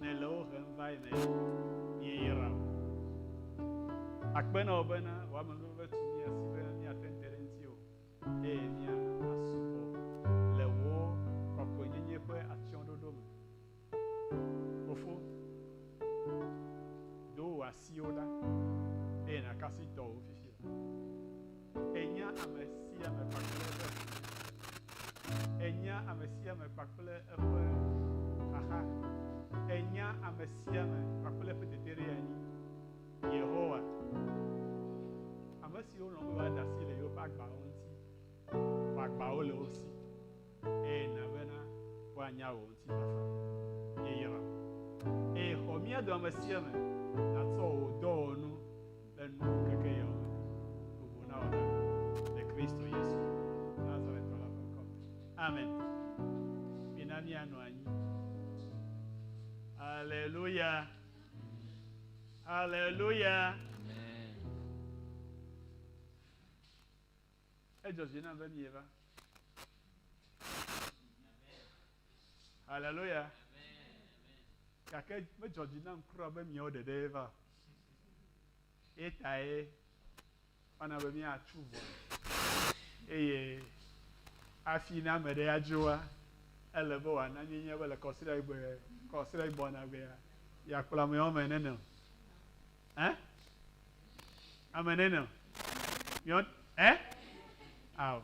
Ne le wo hem va yi ne míeyra o. Akpe na wò bena wò amenuveve tu mía si be míate ŋu te ɖe ŋutiwò eye míasubɔ le wò kɔkɔenyenye ƒe atsyɔ̃ɖoɖo me. Fofo, do wò asiwo ɖa eye nàkafu dɔ wò fifia. Ènya ame sia ame kpakple eƒe ƒome. Ènya ame sia ame kpakple eƒe xaxa. Ènya ame sia ame kpakple eƒe teteɖeanyi. Yehowa, ame siwo lɔ̃ be woade asi le yewoƒe agbawo ŋuti, wò agbawo le wo si. eye na bena woanya wò ŋutifafa yeyra, eye xɔ mía dɔ ame sia ame natsɔ wò dɔwɔnu le nuŋkekeyawo me bubu na wò ɖa le Kristo Yesu Nazaretɔ la ƒe ŋkɔ me. Amen. Mina míanɔ anyi. Aleluya. Aleluya. Amen. Edzɔ dzi nam be mieva. Haleluya. Gake medzɔ dzi nam kura be miawo ɖeɖe va. Etae mana be míatsu vɔ eye afi na ame ɖe adzoa ele be wòana míenya be le kɔsiɖagbe kɔsiɖagbɔnagbea yeakplɔ ameawo me nenema. Ɛ? Ame nɛ nɔ. Yɔ ɛ? Ao.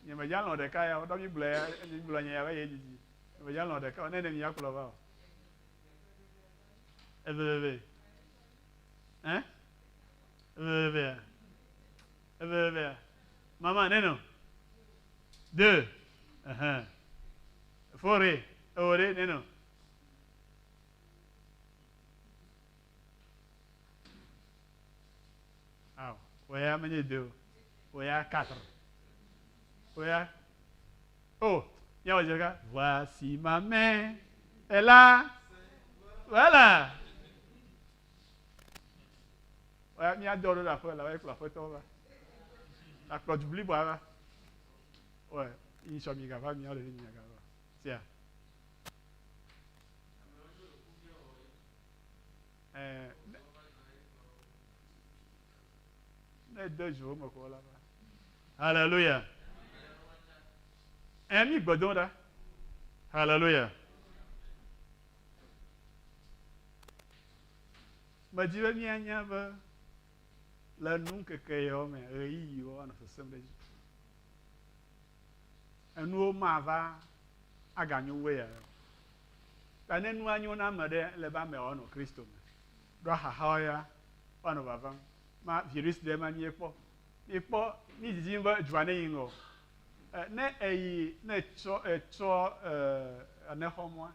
Nye me ja lɔ ɖeka ya, ɖɔ mi gblɔ ya, mi gblɔ nye ya be ye didi. Nye me ja lɔ ɖeka o, ne ne mi ya kplɔ va o. Eveveve. Ɛ? Eveveve ya. Eveveve ya. Mama nɛ nɔ. De. Ehɛn. Fore. Ewore nɛ nɔ. Aw, oya menye de o. Oya katr. Oya. O, oh, nyawɔ dze ɖeka. Voici ma main. Ela. Voilà. Oya míadɔ ɖo le aƒe la, woyɛ kplɔ aƒetɔ va. Akplɔ du blibo va. Oya, yi sɔ mi gava, míawo ɖevi mi gava. Tia. Ɛɛ, ne, ne ede dzo me ko la, haleluya. Ɛɛ, mi gbe dom ɖa, haleluya. Medi be mianya be le nu ŋkeke yawo me ɣeyiɣiwo anɔ sesem ɖe edzi. Enuwo mava aganyo wɛa. Ta ne nua nyo na ame ɖe, ele be amea wòanɔ Kristo me. Ɖo xaxawo ya woanɔ vavam. Ma virus ɖe ma mie kpɔ. Mi kpɔ, mi didim be edua ne yi ŋgɔ o. E, ne eyi, ne etsɔ, etsɔ, e, ane xɔ mɔa,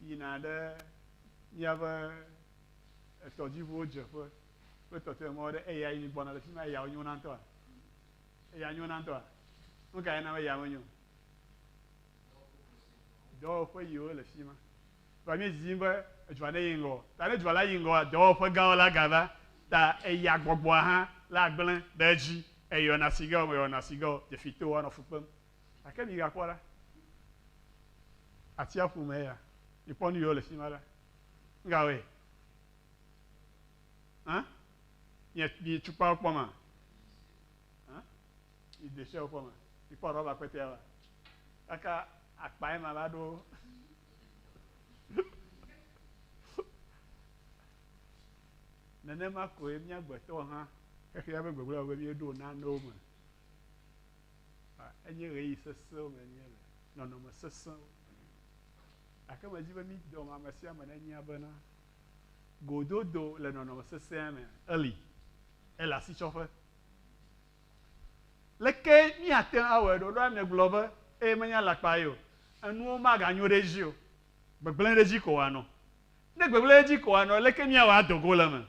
yina ɖe miabe etɔdziʋuwo dzeƒe kple tɔtɔe mɔwo ɖe, eya yi mi gbɔna le fima, eyawo nyona ŋutɔa? Eya nyona ŋutɔa? Nukae na be eya menyo o? Dɔwɔƒe yi wole fi ma. Vɔa mí didi be edua ne yi ŋgɔ. Ta ne dua la yi ŋgɔa, dɔwɔƒe gãwo la ga va. Ta eya gbɔgbɔa hã la gblẽ ɖe edzi. Eyɔna sigao, meyɔna sigao, dzefitɔwo anɔ fu kpem. Gake mi ga kpɔ la, atiaƒu me eya. Mi kpɔ nu yi wole fi ma la. Nu ka wɔe? Hã? Mi, mi tukpawo kpɔ ma? Hã? yi detsiɔ kɔ me yi kpɔ rɔba kpɛtɛa va kaka akpa yi ma va ɖo nenema koe mía gbetɔ hã xexea be gbegblẽ wɔwɔ vevie ɖo nanewo me enye ɣeyiɣi sesẽwo me enye le nɔnɔme sesẽwo gake medi be mídɔm ame sia ame nenya bena gododo le nɔnɔme sesẽa me eli ele asitsɔƒe Leke míate ŋu awɔe ɖo? Ɖo ame gblɔ be, Eye menye alakpa ye o, enuwo maganyo ɖe edzi o, gbegblẽ ɖe edzi ko wòanɔ. Ne gbegblẽ ɖe edzi ko wòanɔ, leke míawɔ ado go le eme?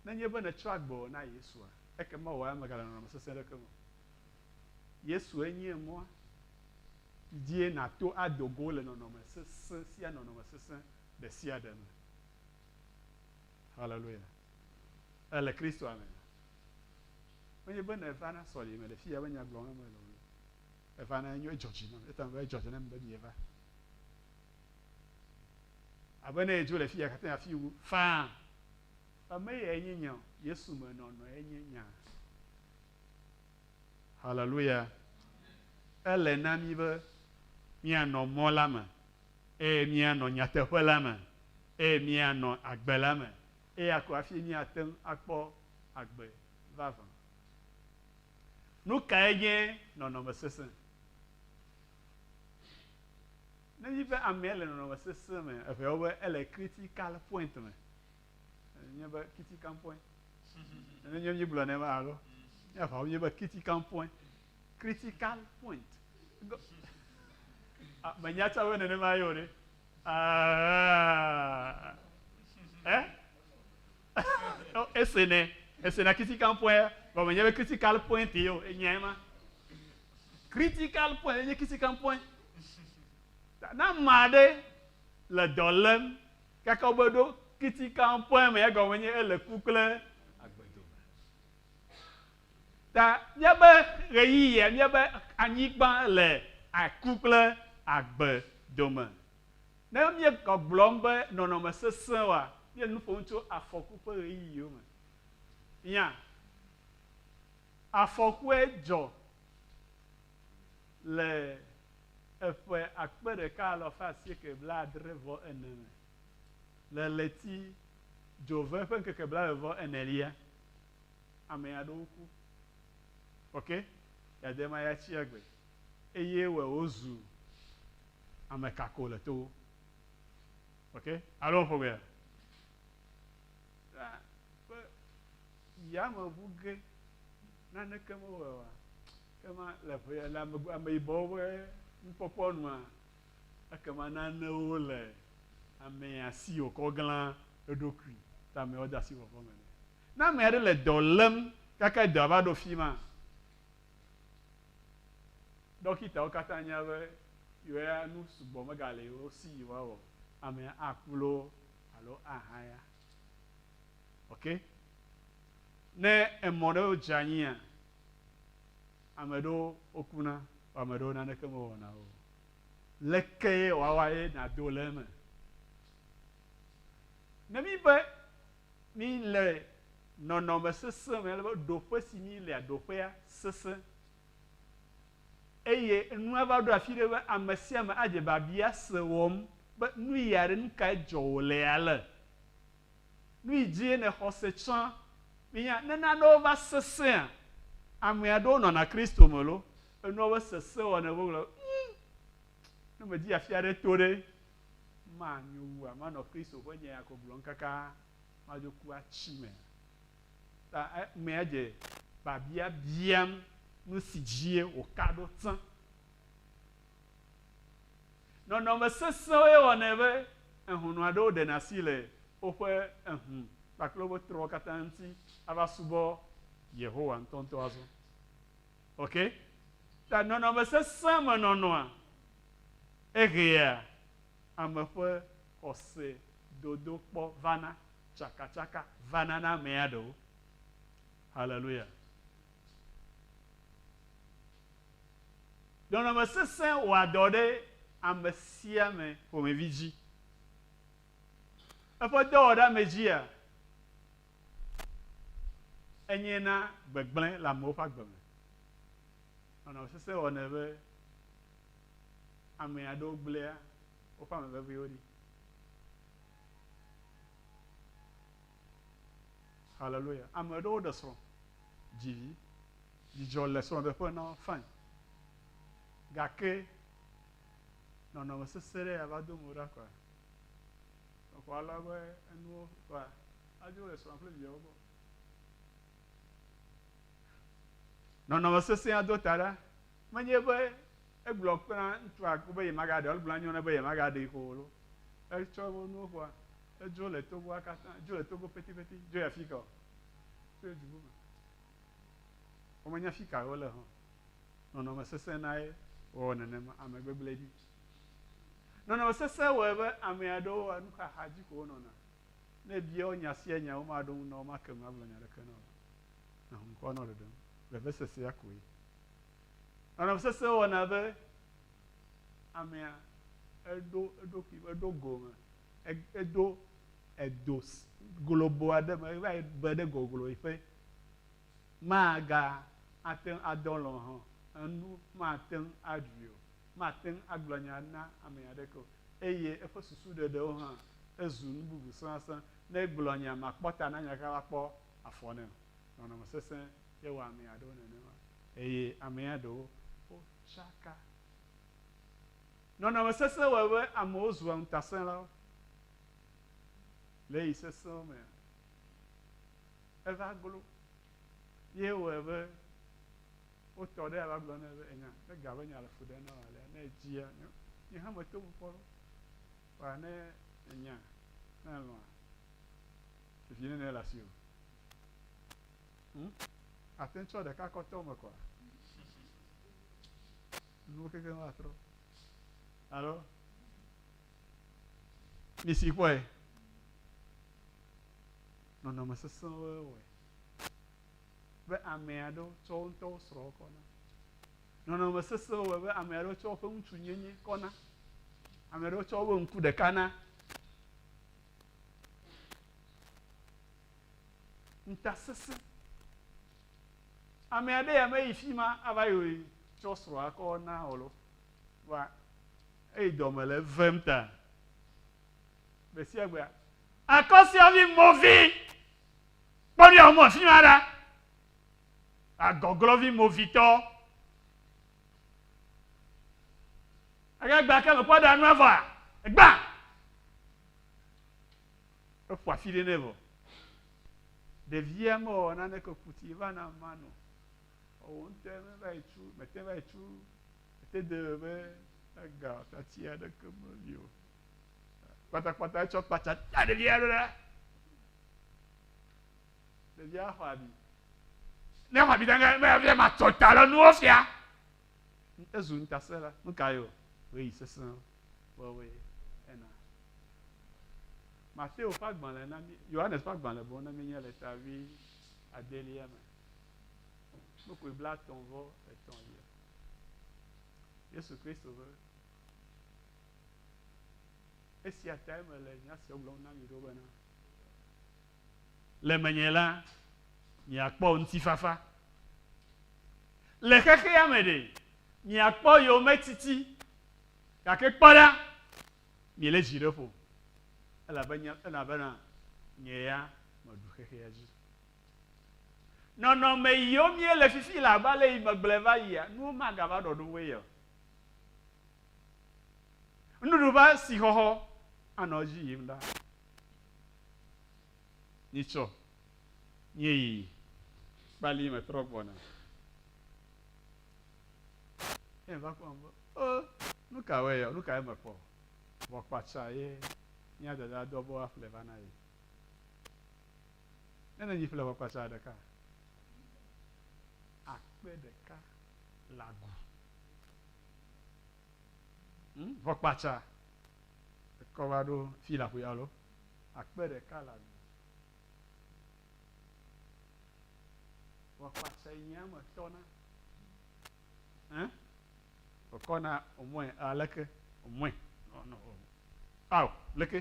Nenye be nètsɔ agbewò na Yesua, ekema wò ya mègale nɔnɔme sesẽ aɖeke me o. Yesue nye mɔa si dzie nàto ado go le nɔnɔme sesẽ sia nɔnɔme sesẽ ɖe sia ɖe me. Haleluya! Èle Kristoa mea? Menye be nèva na sɔleme le fiya be nya gblɔm na mele o. Èva na enyo edzɔ dzi nam. Etame be edzɔ dzi nam be mieva. Abe ne edzo le fiya katã afi wu faa. Ame yae nye nya o. Yesu me nɔnɔe nye nya. Haleluya. Ele na mi be míanɔ mɔ la me eye míanɔ nyateƒe la me eye míanɔ agbe la me Eya ko hafi míate ŋu akpɔ agbe vavã. Nu kae nye nɔnɔme sesẽ? Ne míebe amea le nɔnɔme sesẽ me, eŋea wo be ele critical point me. Enye be critical point. Ne nye míegblɔ ne ma alo míaʋa wo míebe critical point. Critical point. Menya tsã be nenema ye o ɖe. Aa, ese ne, ese na critical point, gɔme nye be critical point ye o, enya ye ma. Critical point, enye critical point. Na ma ɖe le dɔ lem, kake wobe ɖo critical point me, egɔme nye ele ku kple agbedome. Ta míabe ɣeyiɣia, míabe anyigba le aku kple agbe dome. Ne míegagblɔm be nɔnɔme sesẽ oa, míele nu ƒom tso afɔku ƒe ɣeyiɣiwo me. Fia, afɔkue dzɔ le eƒe akpe ɖeka alo ƒe asieke blaadre vɔ ene me, le ɣleti dzove ƒe ŋkeke blaeve vɔ enelia. Ame aɖewo ku. Oke, yade ma ya tsi agbe. Eye wɔ wo zu ame kako le towo. Oke, alo ƒo gbea? Ɖa ƒe yame ŋu ge naneke me wɔe wa? Ke ma le ƒe ya le ame ame yibɔwo ƒe nukpɔkpɔ nua eke ma nanewo le amea si wokɔ glã eɖokui ta me wɔ de asi vɔvɔ me nɛ. Ne ame aɖe le dɔ lém gake dɔa va ɖo fi ma, ɖɔkitawo katã nya be yewoa nu sugbɔ megale yewo si yewoawɔ o. Amea aku loo alo ahaya. Ok? Ne emɔ ɖe dze anyia, ame aɖewo wokuna vɔ ame aɖewo naneke mewɔna wo o. Lekee wòawɔ ye nàdo le eme? Ne míbe Mi le nɔnɔme sesẽ me, ale be ɖoƒe si mi lea, ɖoƒea sesẽ. Eye nua va ɖo afi ɖe be ame sia ame adze biabia se wɔm be nu yi aɖe, nu kae dzɔ wòle ale? Nu yi dzie nèxɔ se tsã? Minya, ne nanewo va sesẽa, ame aɖewo nɔna Kristo me loo, enua be sesẽ wɔnɛ, wogblɔ be, Ŋm, ne medi afi aɖe to ɖe, Ma nyo wua manɔ Kristo ƒe nya ya gɔglɔm kaka madzo ku atsi me ta emea dze babia biam nu si dzie wòka ɖo tsã. Nɔnɔme sesẽwoe wɔnɛ be ehɔnɔ aɖewo ɖena asi le woƒe ehũ kpakple woƒe trɔ̃wo katã ŋuti ava subɔ Yehowa ŋutɔŋutɔ azɔ. Ok, ta nɔnɔme sesẽ me nɔnɔa, eɣea ame ƒe xɔse dodokpɔ vana, tsakatsaka vana na amea ɖewo. Haleluya! Nɔnɔme sesẽ wɔa dɔ ɖe ame sia ame ƒomevi dzi. Eƒe dɔwɔɖeamedzia, Enyee na gbegblẽ le amewo ƒe agbe me. Nɔnɔ sesẽ wɔnɛ be ame aɖewo gblẽa woƒe ame veviwo ɖi. Haleluya. Ame aɖewo ɖe srɔ̃, dzi vi, dzidzɔ le srɔ̃ɖeƒe na wo, fine. Gake nɔnɔme sesẽ ɖe ya va do eme ɖa kɔa? exɔ alɔ eƒe enuwo kpla adzo le srɔ̃a kple viawo gbɔ. Nɔnɔme sesẽa do ta ɖa. Menye be egblɔ na ŋutsua be yemagaɖe o, egblɔ na nyɔnua be yemagaɖee o loo. Etsɔ eƒe nuwo kpla edzo le togoa katã, dzo le togo petipeti, dzo yi afi ka o, tso edu bubu. Womenya afi kae wole hã o. Nɔnɔme sesẽ nae wɔ nenema, ame gbegblẽ ɖi. Nɔnɔme sesẽ wɔe be ame aɖewoa nuxaxa dzi ko wonɔna. Ne èbia wo nya sia nya, womaɖo ŋu na wò make ŋu agblɔ nya aɖeke na wò o. Nɔ ŋkɔ nɔ ɖeɖem. Vevesesea koe. Nɔnɔme sesẽ wɔna be amea eɖo eɖokui, eɖo gome, edo edo globo aɖe me, eva yi be ɖe gogloƒe. Maga ate ŋu adɔ lɔ̃ hã o. Enu mate ŋu aɖui o. mate ŋu agblɔ nya na ame aɖeke o, eye eƒe susuɖeɖewo hã zu nu bubu sẽasẽ. Ne egblɔ nya makpɔ ta na nya ka la, kpɔ afɔ nɛ o. Nɔnɔme sesẽ ye wɔ ame aɖewo nenema, eye amea ɖewo tsaka. Nɔnɔme sesẽ wɔe be amewo zua ŋutasẽlawo. Le ɣeyiɣi sesẽwo mea, eva glo Ye wɔe be wotɔ ɖe ava gblɔ nɛ be enya ne ga be nya le fu ɖem na wò alea ne edzia nye hã meto ŋu kpɔ ɖo kpa ne enya ne elɔ̃a vivi ne nele asi o. Hm? Ate ŋu tsɔ ɖeka kɔ tɔ me kɔa? Nuwo kekeŋ va trɔ. Alo misi kpɔe. nɔnɔme sesẽwoe wɔe be ame aɖewo tsɔ wo ŋutɔwo srɔ̃wo kɔ na. Nɔnɔme sesẽwo wɔe be ame aɖewo tsɔ woƒe ŋutsu nyenye kɔ na. Ame aɖewo tsɔ woƒe ŋku ɖeka na. Ŋutasesẽ. Ame aɖe ya meyi fi ma ava yi tsɔ srɔ̃a kɔ na o lo. Wa eyi dɔme le vem ta. Gbe sia gbe Akɔsiavi movi. Kpɔ mía home afi ma ɖa. Agɔglɔvi movitɔ. Age gba ke mekpɔ ɖa nua vɔa? Egbã. Eƒo afi ɖe nɛ vɔ. Ɖevia mewɔ naneke kuti va na mano. Ɔwɔ ŋutɔ meva yi tsu, mete va yi tsu. Mete de be ega tati aɖeke meli o. kpatakpata etsɔ kpatsa ta ɖevia ɖo ɖa ɖevia xɔ abi ne xɔ abi danga mɛ afia ma tɔ ta lɔ nuwo fia ezu ŋutase la nuka yio ɣeyi sese wɔwɔe ena Mateo ƒe agbalẽ na mi Yohanes ƒe agbalẽ bɔ na mi nye le ta vi adelia me nukui bla tɔn vɔ etɔn yia Yesu Kristo be Esia tae mele nya sia gblɔm na mi ɖo bena, le menye la, miakpɔ ŋutifafa. Le xexea me ɖe, miakpɔ yometiti, gake kpɔ ɖa, miele dzi ɖe ƒo, elabena nye ya meɖu xexea dzi. Nɔnɔme yiwo miele fifi le abe ale yi megblɔe va yia, nuwo magava ɖɔɖoŋue ye o. Nuɖuɖu ƒe asixɔxɔ anɔ edzi yim ɖa. Nyitsɔ, nyeyi, kpali metrɔ gbɔna. Ye va kpɔm be, o, nu ka wɔe yɔ, nu kae mekpɔ? Vɔ kpatsa ye mía dada dɔ be woaƒle va na ye. Ne nènyi ƒle vɔ kpatsa ɖeka akpe ɖeka le agu. Hm? Vɔ kpatsa ekɔ va ɖo fi la ƒo ya lo. Akpe ɖeka le agbe. Vɔ kpatsa yi nye ame tɔ na. Hm? Wòkɔ na omɔe aleke? Omɔe. Nɔ nɔ o. Ao, leke?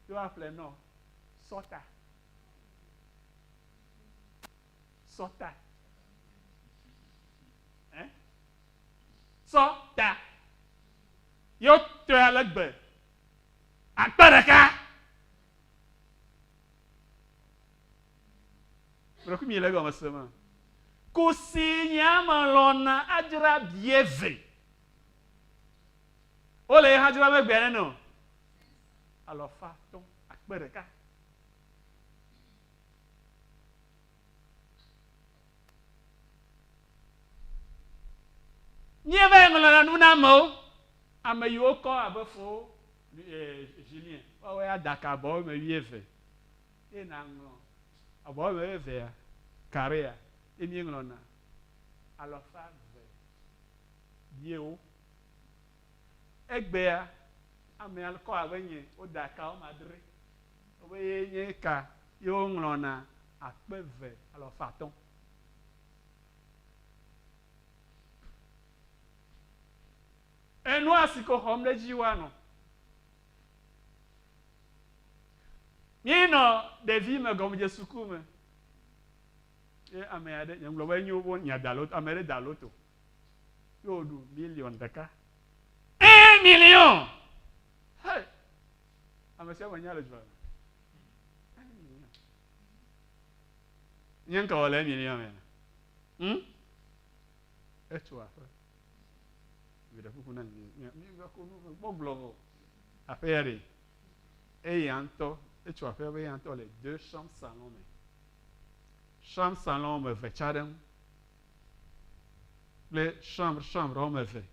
Ɖo aƒle nɔ sɔta. Sɔ ta. Ẽ? Sɔ ta. Ye wotɔe ale gbe. Akpe ɖeka. Ƒe ɖekui mi le egɔme se me. Kusi nye ame lɔna adzra bie ve. Wo le ye hã dzra me gbea neno. Alɔfa tɔ. Akpe ɖeka. Nyie va yi ŋlɔna nu na amewo. Ame yi wo kɔ abe fowo, eh, Julien, woa woe ada ka abɔwo me wuieve eye na ŋlɔ abɔwo me wuievea, carrea, ye mi ŋlɔna alɔfa ve biewo. Egbea, amea kɔ abe nye, wo da kawo me adre. Woƒe ye nye eka ye woŋlɔ na akpe eve alafa atɔ̃. Enua si ko xɔm ɖe edzi woanɔ. Míenɔ ɖevi me gɔmedze suku me. Ye ame aɖe, nye ŋgblɔ be nyo wo nya da loto, ame aɖe da loto. Ye woɖu miliɔn ɖeka. Un million! Hey! Ame sia ame nya le dzroa me. Nye ŋka wɔ le emi lia me. Hm? Etso aƒe. Viɖe kuku na mi. Mi va ko nu gbɔ gblɔ vɔ. Aƒe ya ɖe. Eye antɔ etso aƒe be antɔ le deux chambre salon me. Chambre salon me ve tsa ɖe ŋu. Kple chambre chambre ɔme ve.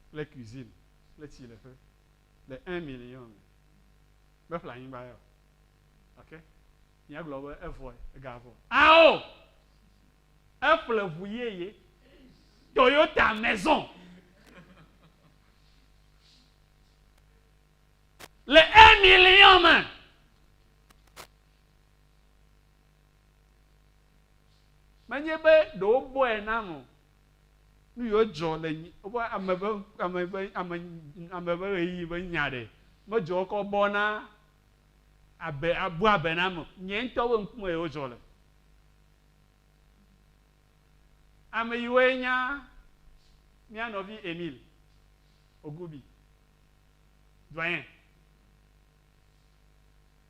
Kple cuisine kple tsileƒe. le un million me, meƒle anyigba ya o, gake míagblɔ be evɔe, egavɔ. Ao! Eƒle ŋu yeye, Toyota Maison, le un million me. Menye be ɖe wobɔe nam o, nuyiwo dzɔ le woƒe ame ƒe ame ƒe ame ame ƒe ɣeyiɣi ƒe nya ɖe medzɔ wo kɔ bɔ na abe abu abe na ame nye ŋutɔ ƒe ŋkume ye wodzɔ le. Ame yiwoe nya mía nɔvi Emil Ogubi, doyen.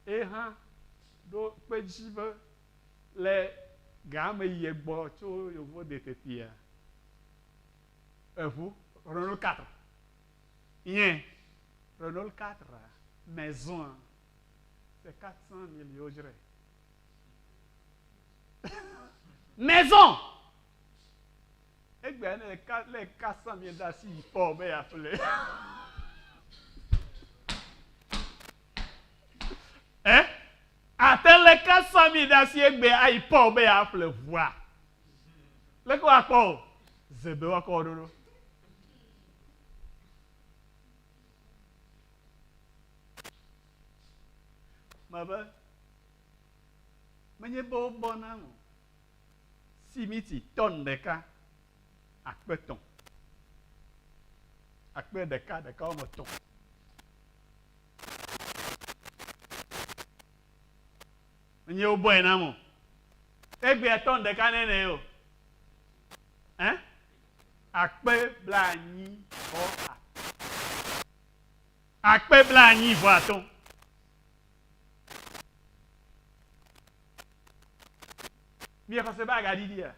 Ye hã ɖo kpe edzi be le ga me yi egbɔ tso yovo de tetia eʋu Renault 4 nye Renault 4 maison c'est 400 mille yo dzrae maison egbea ne le 400 mille ɖe asi yi kpɔ be ya ƒle eh Àte le ka sami ɖe asi egbea ayi Paul be yeaƒle ʋua. Leke woakpɔ o? Ze be woakɔ wò ɖoɖo. Mebe, menye be wobɔ nam o. Simiti tɔn ɖeka, akpe etɔ̃, akpe ɖeka, ɖeka woame etɔ̃. Enye wobɔe nam o. Egbea tɔn ɖeka nɛ nɛ o. Ɛ? Akpe blaenyi vɔ atɔ̃. Akpe blaenyi vɔ atɔ̃. Mia xɔse be agaɖiɖia?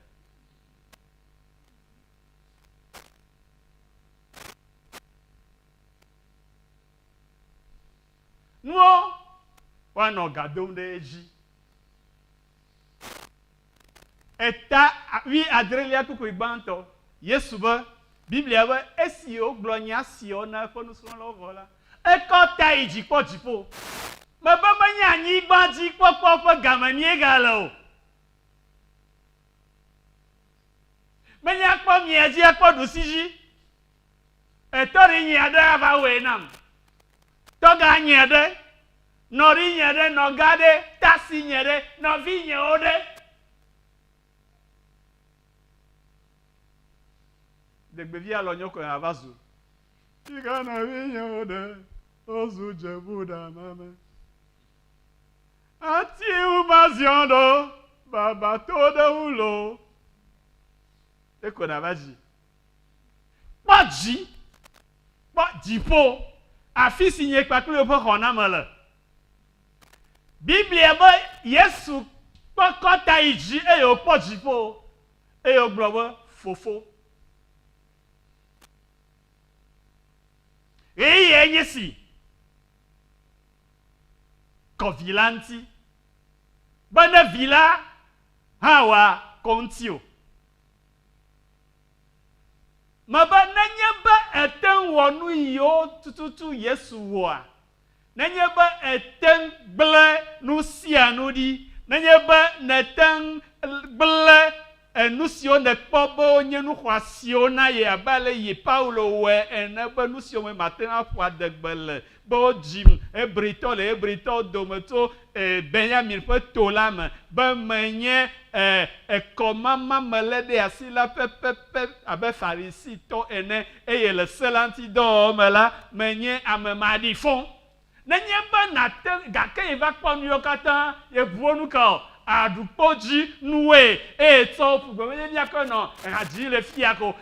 nuwo woanɔ ga dom ɖe edzi. Eta wuiadrelia kpukpui gbãtɔ, Yesu be, Biblia be, Esi wògblɔ nya siawo na eƒe nusrɔ̃lawo vɔ la, ekɔ ta yi dzi kpɔ dziƒo. Mebe menye anyigbadzikpɔkpɔ ƒe game míegale o. Menye akpɔ miadzi akpɔ ɖusi dzi. Etɔri nyui aɖe ava wɔe nam. Tɔga nyui aɖe, nɔri nyui aɖe, nɔga ɖe, tasi nyui aɖe, nɔvi nyuiwo ɖe. Ɖegbevi alɔ nyɔkɔe hã va zu. Yi ke nɔvi nyuiwo ɖe, wozu dzebu ɖa nane. Ati ŋu va ziɔ ɖo, baba to ɖe ŋu loo. Ekɔna va dzi. Kpɔ dzi, kpɔ dziƒo, afi si nye kpakple wò ƒe xɔname le. Biblia be Yesu kpɔ kɔ ta yi dzi eye wòkpɔ dziƒo eye wògblɔ be, Fofo, ɣeyiɣie nye si, kɔ Vi la ŋuti, be ne Vi la hã wòakɔ ŋutiwò. Mebe nenye be ète ŋu wɔ nu yiwo tututu Yesu wɔa, nenye be ète ŋu gblẽ nu sia nu ɖi, nenye be nète ŋu gblẽ nu siwo nèkpɔ be wonye nu xɔasiwo na ye abe ale si Paulo wɔe ene be nu siwo me màte ŋu aƒo adegbe le Kpɔ dzim, Hebritɔ le Hebritɔwo dome tso e, Benyamin ƒe to la me, be menye e, ekɔmama me lé ɖe asi la pɛpɛpɛ abe Farisitɔ ene, eye le Se la ŋuti dɔ wɔwɔ me la, menye ame maɖifɔ. Nenye be nàte, gake yi va kpɔ nuyawo katã, ye ʋuwo nu ka o, aɖu kpɔ dzi nuwoe, eye tsɔ wo ƒu gbe be, Ye mía kɔe nɔ, ehadzii le fia ko.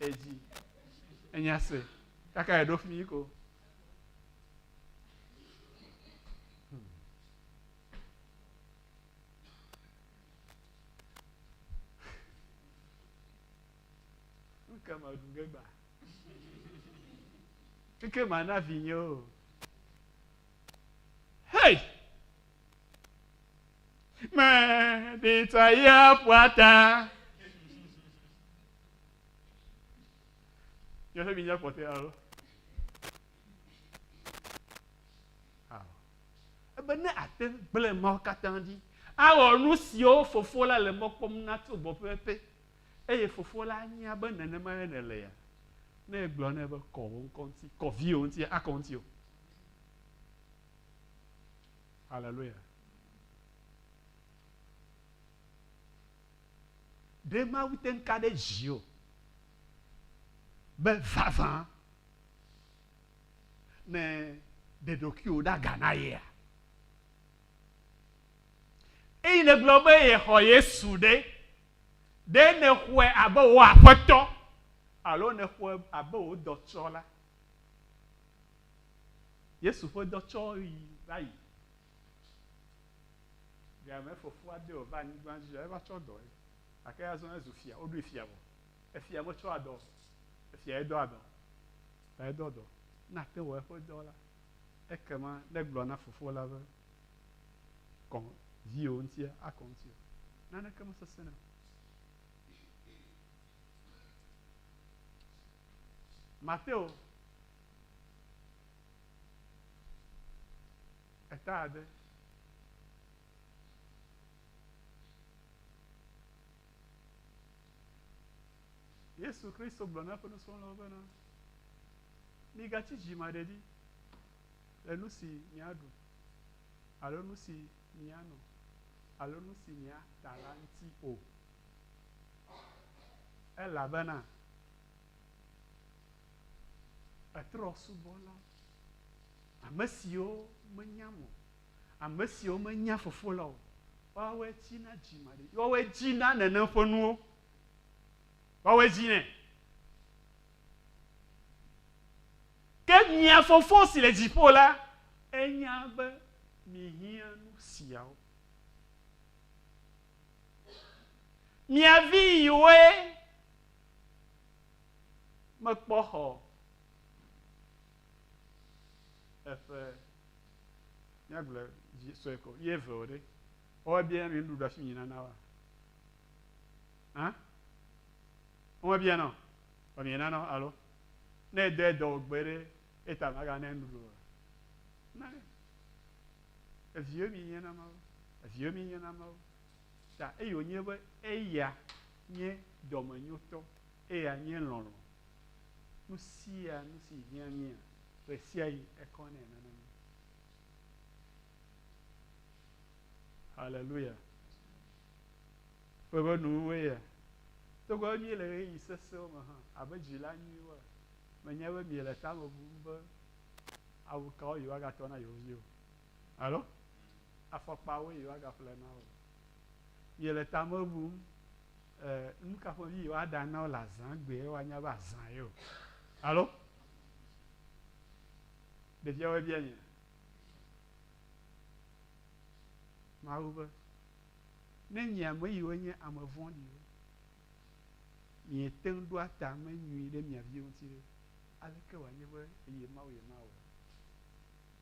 edzi enya se kaka eɖo fi ko ke me ɖu ge gba keke ma na vinye o hei mɛ ɖi ta ya ƒua ta. Nye ƒe minya kpɔtɔe alo? Ebe ne ate gblẽ mawo katã dzi, awɔ nu siwo fofo la le mɔ kpɔm na tso gbɔ pɛpɛpɛ, eye fofo la anya be nenemae nèle ya. Ne egblɔ nɛ be kɔ wò ŋkɔ ŋuti, kɔ viwò ŋuti, akɔ ŋuti o. Hallelujah. Ɖe Mawu te ŋu ka ɖe dziwò be vavã nèɖe ɖokuiwò ɖa ga na yea? Eyi nègblɔ be yexɔ Yesu ɖe, ɖe nèxɔe abe wò Aƒetɔ alo nèxɔe abe wò dɔtsɔla? Yesu ƒe dɔtsɔɣi va yi. Via me fofoa de wòva anyigba dzi ya eva tsɔ dɔ ye. Gake azɔ ezu fia, woɖoe fia vɔ. Efia metsɔ adɔ o. Efiae dɔ adɔ. Ta edɔ dɔ. Ne ate wɔ eƒe dɔ la, ekema negblɔ na fofo la be, Kɔ viwò ŋutia akɔ ŋutiwò. Naneke mesesẽna o. Mateo. Eta ade. Yesu Kristo gblɔ na eƒe nusrɔ̃lawo bena, migatsi dzimaɖedi le nu si miaɖu alo nu si miano alo nu si miata la ŋuti o, elabena Etrɔ subɔla, ame siwo menyam o, ame siwo menya Fofo la o, woawɔe dzi na dzimaɖi, woawɔe dzi na nenem ƒe nuwo, woawɔe dzi nɛ. Ke mia Fofo si le dziƒo la, enya be mihiã nu siawo. Mia viwoe. Mekpɔ xɔ eƒe míagblɔ vi sue ko ye eve o ɖe woa bia mi nuɖuɖu afi mi nana wa hã woa bia nɔ wa mi nana alo ne edɔ edɔ gbe ɖe eta maga ne nuɖuɖu o na ne eviwo mi nye na mawo eviwo mi nye na mawo ta eye wonye be eya Nye dɔmenyotɔ, eya nye lɔlɔ̃. Nu sia nu si hiã mía, ɣe sia ɣi ekɔ nɛ nana mí. Haleluya! Woƒe nuwuwue ya. Togbɔ be míele ɣeyiɣi sesẽwo me hã, abe dzila nyuiwoa, menya be miele tame bum be awu kawo yewoagatrɔ na yewo viwo. Alo afɔkpawoe yewoagaƒle na wò. Miele tame bum, e, nu ka ƒomevi yewoaɖa na wò le azã gbee woanya be azã ye o. Alo ɖeviawoe bia nye Mawu be, Ne nye ame yiwo nye ame vɔ̃ɖiwo, miete ŋu ɖoa tame nyui ɖe mia viwo ŋuti ɖe, aleke wòanye be eye Mawu yemawɔe?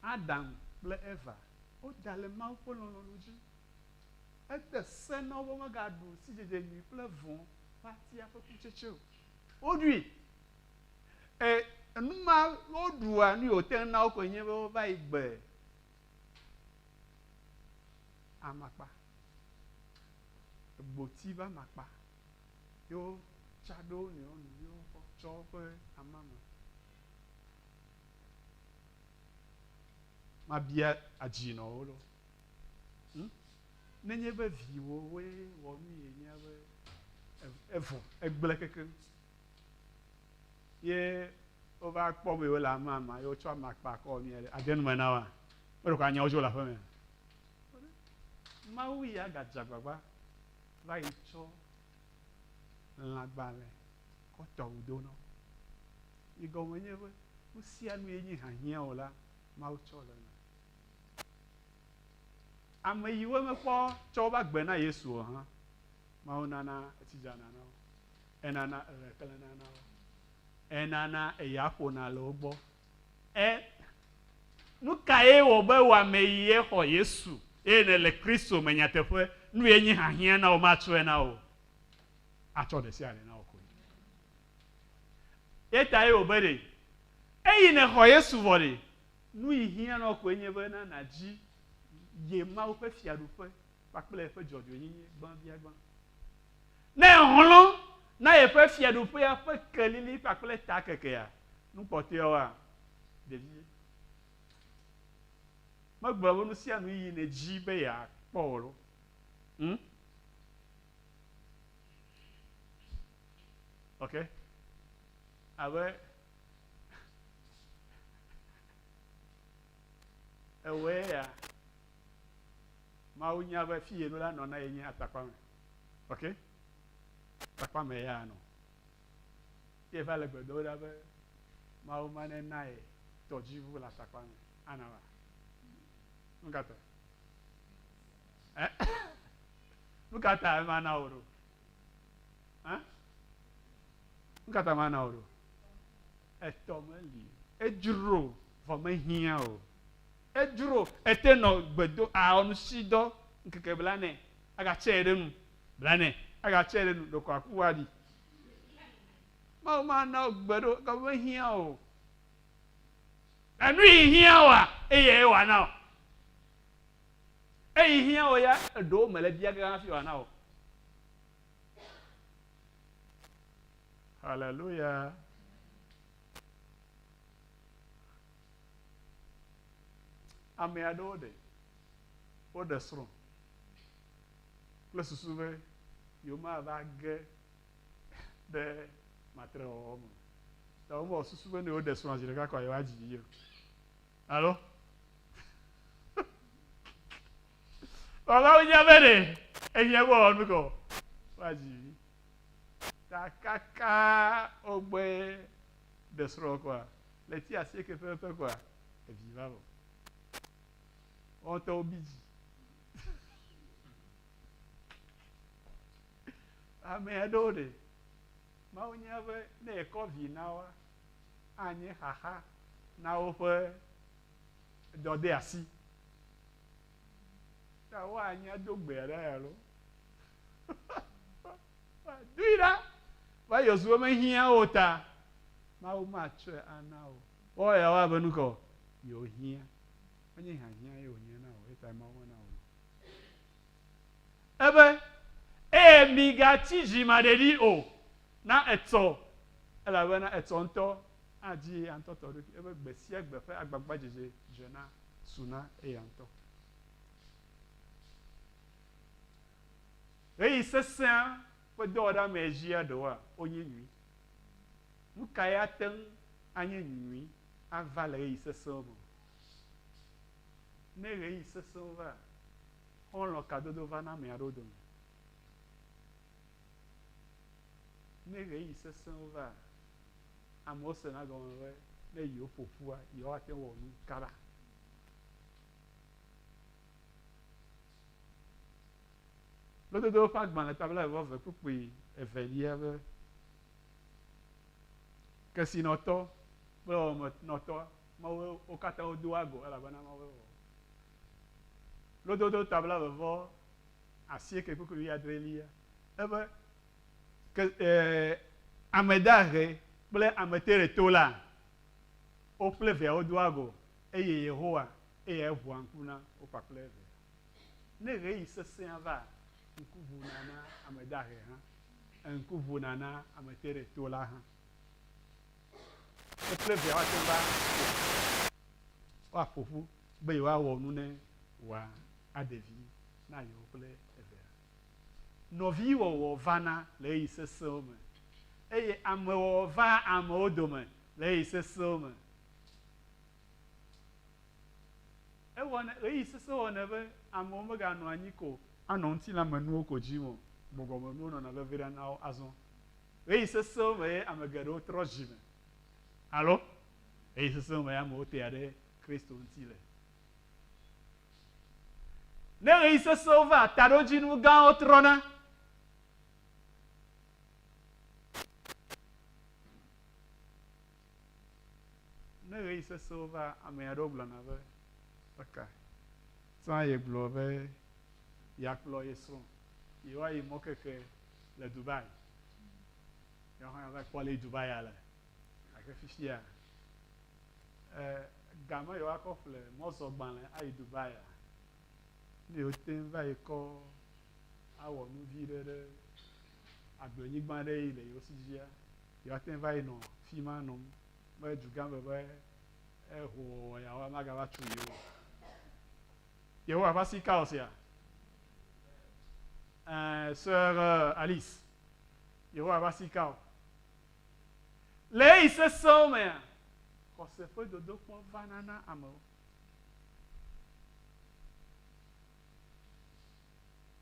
Adam kple Eva, woda le Mawu ƒe lɔlɔ̃nu dzi. Ede se na wo be womegaɖu sidzedze nyui kple vɔ̃ ƒe atia ƒe kutsetse o. Woɖui. E, enu ma woɖua nui wòte ŋu na wo koe nye be wova yi gbe amakpa, gboti ƒe amakpa, ye wotsa ɖe wo nɔewo nu ye wotsɔ woƒe amame. mabia adzi nɔ wo ɖo hm nenye be viwòwoe wɔ nu yi nya be evɔ egblẽ kekeŋ ye wova kpɔ be wole amama ye wotsɔ amakpa kɔ wɔ nu yi aɖe ade nu me na woa meɖe ko anyawo dzo le aƒeme mawu ya gadze agbagba va yi tsɔ lãgbalẽ kɔtɔ wòdo nɔ. Yi gɔme nye be, nu sia nu yi nyi hiahiã o la, Mawu tsɔ le eme. Ame yi wo mekpɔ tsɔ woƒe agbe na Yesu o hã, Mawu nana etsi dzana na wo. Enana eɣe klẽna na wo. Enana eya ƒona le wo gbɔ. Ẽ, nu kae wɔ be wò ame yi ye xɔ Yesu eye nèle Kristo me nyateƒe? Nu ye nyi hiahiã na wò matsɔe na wò o. Atsɔ ɖe sia ɖe na wò koe. Ye tae wò be ɖe eyi nèxɔ Yesu vɔ ɖe, nu yi hiã na wò koe nye be na nàdzi ye Mawu ƒe fiaɖuƒe. kpakple eƒe dzɔdzɔenyenye gbãbiagbã. Ne èxlɔ̃ na yeƒe Fiaɖuƒea ƒe kelili kpakple takekea, nu kpɔtɔeawoa, ɖevie, megblɔ be nusianui yi nèdi be yeakpɔ o loo? Hm? Ok? Abe ewɔe ya. Mawu nya be fi yeno la nɔ na ye nye atakpame. Ok? Atakpame ya nɔ. Ye va le gbe dom ɖa be Mawu ma ne na ye tɔdziʋu le atakpame. Ana va. Nu ka ta? Eh? Nu ka ta ema na wò ɖo? Eh? Nu ka ta ma na wò ɖo? Etɔ meli. Edzro vɔ mehiã o. Edzro ete nɔ gbe do aɔ nusidɔ ŋkeke blanɛ aga tsɛ ɖe nu blanɛ aga tsɛ ɖe nu ɖeko aku wa ɖi. Mawu ma na wo gbe ɖo ga me hiã o. Enu yi hiã oa eyɛ ye wa na o. Eyi hiã o ya eɖewo me le bia ge hafi wa na o. Hallelujah. Ame aɖewo ɖe, woɖe srɔ̃ kple susu be yewomava ge ɖe matrewɔwɔ me o. Ta womewɔ susu be ne yewoɖe srɔ̃a zi ɖeka kɔa yewoadzi vi o. Alo? Vavawo nya be ɖe ehiã be wòawɔ nu kɔ woadzi vi. Ta kaka wogbe ɖe srɔ̃ kɔa Le ti asieke pɛpɛpɛ koa, evi va vɔ. Woawo ŋutɔ wobi dzi. Ame aɖewo ɖe, Mawu nya be ne yekɔ vi na woa, anye xaxa na woƒe dɔdeasi. Ta woanya do gbe aɖe alo. Medoe ɖa be Yosua mehiã o ta, Mawu matsɔe ana wò. Woawɔ yeawɔ abe nu ka o? Yewohiã. Menye hiahiã ye wònye na wò, eya tae Mawu mena wò nu. Ebe, Eye migatsi dzimaɖeɖi o, na etsɔ, elabena etsɔ ŋutɔ adzi eya ŋutɔ tɔ ɖokui. Ebe, Gbe sia gbe ƒe agbagbadzedze dzena suna eya ŋutɔ. Ɣeyiɣi sesẽa ƒe dɔwɔɖeamee dzia ɖewoa? Wonye nyui. Nu kae ate ŋu anye nyui ava le ɣeyiɣi sesẽwo me? Ne ɣeyiɣi sesẽwo vaa, xɔlɔ̃ kadodo vana ame aɖewo dome. Ne ɣeyiɣi sesẽwo vaa, amewo sena egɔme be ne yewoƒo ƒua, yewoate ŋu wɔ nu kaba. Lododo ƒe agbalẽ ta blaeve-vɔ-eve kpukpui evelia be, Kesinɔtɔ kple Wɔmenɔtɔ, Mawue wo katã wodo woa go, elabena Mawue wɔ wo. Lododo ta blaeve-vɔ-asieke kpukpui wuiadrelia ebe, Ke, e, ame dahe kple ame teɖetola, wo kple Via wodo woa go, eye Yehowa Eya eʋua ŋku na wo kpakple eve. Ne ɣeyiɣi sesẽa va, ŋku ʋuna na ame dahe hã, ŋku ʋuna na ame teɖetola hã. Wo kple via woate ŋu va woaƒo ƒu be yewoawɔ nu ne wòa aɖe vi na yewo kple evea. Nɔviwɔwɔ vana le ɣeyiɣi sesẽwo me, eye amewɔwɔ vaa amewo dome le ɣeyiɣi sesẽwo me. Ewɔnɛ, ɣeyiɣi sesẽ wɔnɛ be amewo meganɔ anyi ko anɔ ŋutilãmenuwo ko dzim o, gbɔgbɔmenuwo nɔna veviɖe na wo. Azɔ ɣeyiɣi sesẽwo me ye ame geɖewo trɔ dzi me alo ɣeyiɣi sesẽwo me ye amewo tea ɖe Kristo ŋuti le. Ne ɣeyiɣi sesẽwo vaa, taɖodzinu gãwo trɔna. Ne ɣeyiɣi sesẽwo va, ame aɖewo gblɔna be, Eka ta yegblɔ be yeakplɔ ye srɔ̃ yewoayi mɔkeke le Dubai? Yewo hã va kpɔ alesi Dubaia le. Gake fifia, gamɛ yewoakɔ ƒle mɔzɔgbalẽ ayi Dubaia, ne yewote ŋu va yi kɔ awɔ nu vi ɖe ɖe agblenyigba aɖe yi le yewo si dzia, Yewoate ŋu va yi nɔ fi ma nɔ be dugã me be hoowɔwɔ yawo magava tsu yewo o. Yehowa ƒe asi ka wɔ esia? Ẽ, Sœur Alice, Yehowa ƒe asi ka wɔ? Le ɣeyiɣi sesẽwo mea, xɔse ƒe dodokpɔ vana na amewo.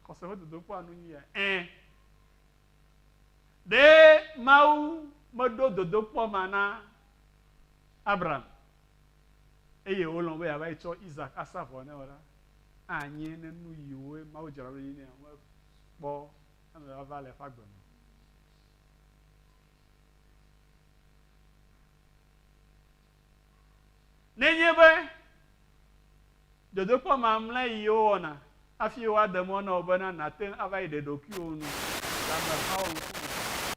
Xɔse ƒe dodokpɔa nu nye yae? Ẽ, Ɖe Mawu meɖo dodokpɔ ma na Abraham eye wòlɔ̃ be yeava yi tsɔ Isak asa vɔ nɛ o la, anye ne nuyiwoe Mawu dzra ɖo ɖi nɛ o mekpɔ emevava le eƒe agbe me o. Nenye be dodokpɔ mamlɛ yi wowɔna hafi woade mɔ na wò bena nàte ŋu ava yi ɖe ɖokuiwò nu le amehawo ŋkume o,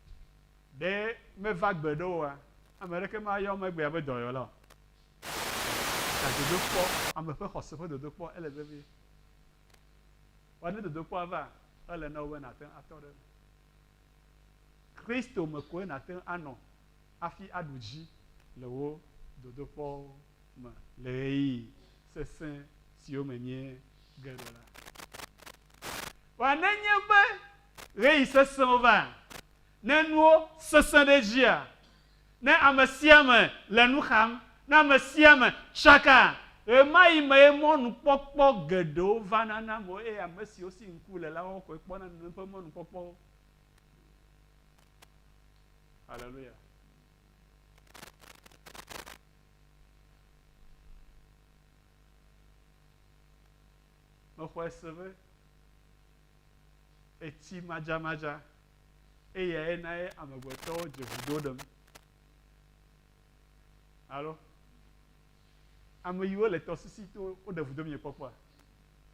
ɖe meva gbe ɖe wòa? Ame aɖeke mayɔ wò megbea be dɔyɔla o. Gake dodokpɔ, ame ƒe xɔse ƒe dodokpɔ, ele vevie. Vɔ ne dodokpɔa va, ele na wò be nàte ŋu atɔ ɖe eme. Kristo me koe nàte ŋu anɔ hafi aɖu dzi le wò dodokpɔwo me le ɣeyiɣi sesẽ siwo me míege ɖo la. Vɔ nenye be ɣeyiɣi sesẽwo va, ne nuwo sesẽ ɖe edzia, ne ame sia ame le nu xam, ne ame sia ame tsaka, ɣemaɣi mee mɔnukpɔkpɔ geɖewo vana na amewo eye ame siwo si ŋku le la wɔwɔ koe kpɔna nenem ƒe mɔnukpɔkpɔwo. Aleluya. Mexɔe se be etsi madzamadza eyae na ye amegbetɔwo dze vudo ɖem. Alo ame yiwo le tɔsisi to woɖe vudo mi kpɔkpɔa?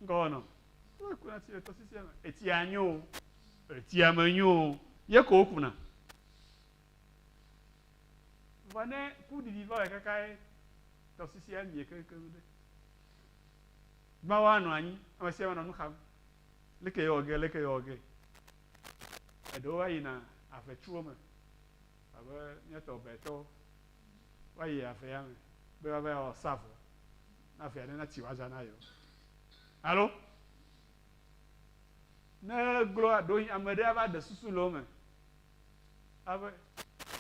Ŋgɔ wɔnɔ. Wole kuna tsi le tɔsisia me. Etsia nyo o. Etsia me nyo o. Ye ko wokuna. Vɔ ne kuɖiɖi va wɔe kaka ye tɔsisia mie keŋkeŋ ɖe. Mawu anɔ anyi. Ame sia ame nɔ nu xam. Leke yewɔ ge, leke yewɔ ge. Eɖewo va yina avetsiwo me. Abe míatɔ ɔbɛtɔwo. Woayi avea me be woava wɔ sa vɔ. na vi aɖe nati woaza na yewo. Alo ne gloa ɖo ame ɖe ava ɖe susu le wo me. Ave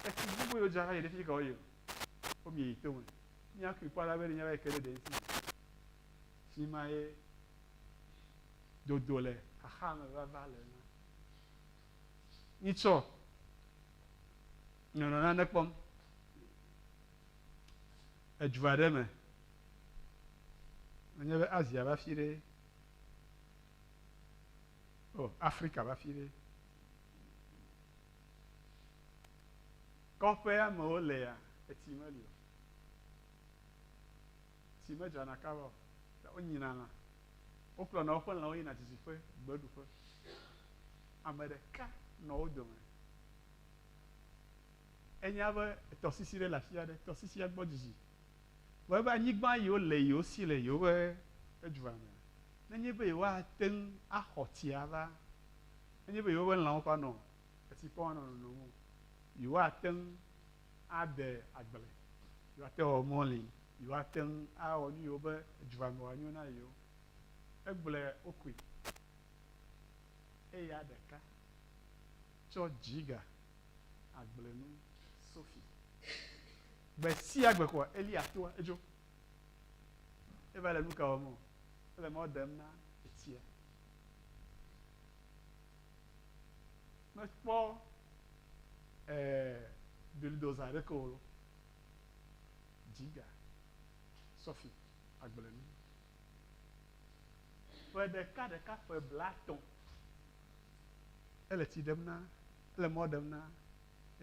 etsi gbogbo yewo dzra va yi ɖe fi ka wo yi o. Wo mi yi to me. Mi akui kpɔ alabɛ ne mi ava yi ke ɖe ɖe ŋuti me. Fi ma ye dodo le xaxa me vava le na. Mi tsɔ nɔnɔ nane kpɔm. edu aɖe me, menye be Asia ƒe afi ɖee o, Afrika ƒe afi ɖee, kɔƒe amewo lea, etsi meli o, tsi medzrana kaba o, ta wonyina lã, wokplɔna woƒe lãwo yina didiƒe, gbeɖuƒe, ame ɖeka nɔ wo dome. Enya be tɔsisi ɖe le afi aɖe, tɔsisia gbɔ dzidzi. Vɔ ebe anyigba yi wole yi wosi le yewoƒe edua me. Nenye be yewoate ŋu axɔ tsi ava, nenye be yewoƒe lãwo ƒã nɔ etsi kpɔm anɔ nonom o, yewoate ŋu ade agble, yewoate ŋu awɔ mɔli, yewoate ŋu awɔ nu yiwo be edua me wòanyo na yewo. Egblɔe wokui. Eya ɖeka tsɔ dzi ga agblenu sofi. Gbe sia gbe koa Eliya toa edzo. Eva le nuka wɔm o. Ele mɔ dem na etsia. Mekpɔ eh, bulldozer aɖeke o lɔ. Dziga, sɔfi, agblenu. Ƒe ɖeka ɖeka ƒe blatɔ̃ ele tsi ɖem na Ele mɔ ɖem na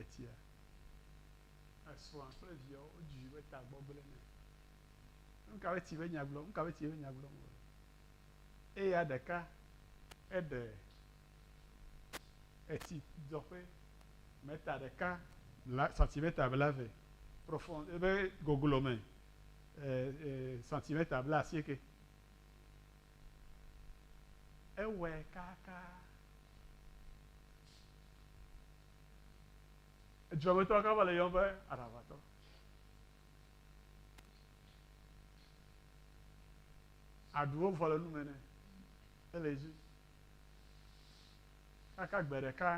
etia. Esrɔ̃a kple viawo wodzui be tagbɔ gblẽ nɛ. Nuka be ti be nya gblɔm, nuka be ti be nya gblɔm wòle? Eya ɖeka eɖe etsi dzɔƒe mɛta ɖeka bla santimɛta bla ve profɔn ebe goglo me e e santimɛta bla asieke Ewɔe kakaa. Edzrɔmetɔ ka va le yɔm be aɖaʋatɔ? Aɖuwo vɔ le nu me nɛ. Ele dzi. Kaka gbe ɖeka,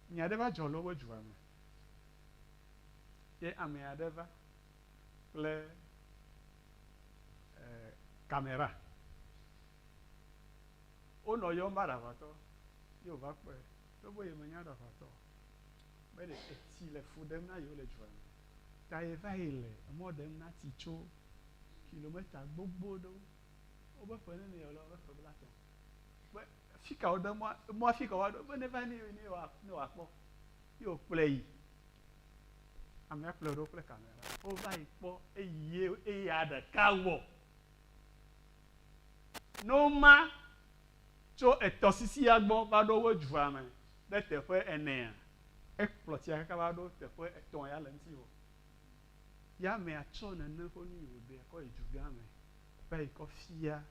nya ɖe va dzɔ le woƒe dua me. Ye ame aɖe va kple e, kamera. Wonɔ yɔm va ɖaʋatɔ ye wòva kpɔe. Togbɔ be yemenya ɖaʋatɔ o, be ɖe etsi le fu ɖem na yewo le dua me ta yeva yi le emɔ ɖem na tsi tso kilometa gbogbo ɖewo, wobe ƒe nene yewole wobe ƒe blatɔ̃, be fika woɖo emɔa, emɔa fika woaɖo be neva ne ne wòakpɔ ye wòkplɔe yi. Amea kplɔe ɖo kple kamera. Wova yi kpɔ eye eya ɖeka wɔ. Noma tso etɔsisia gbɔ va ɖo wo dua me ɖe teƒe enea, ekplɔ tsia kaka va ɖo teƒe etɔ̃ ya le eŋuti wɔ. Ya amea tsɔ nene ƒe nu yi wòɖea kɔ yi dugã me va yi kɔ fia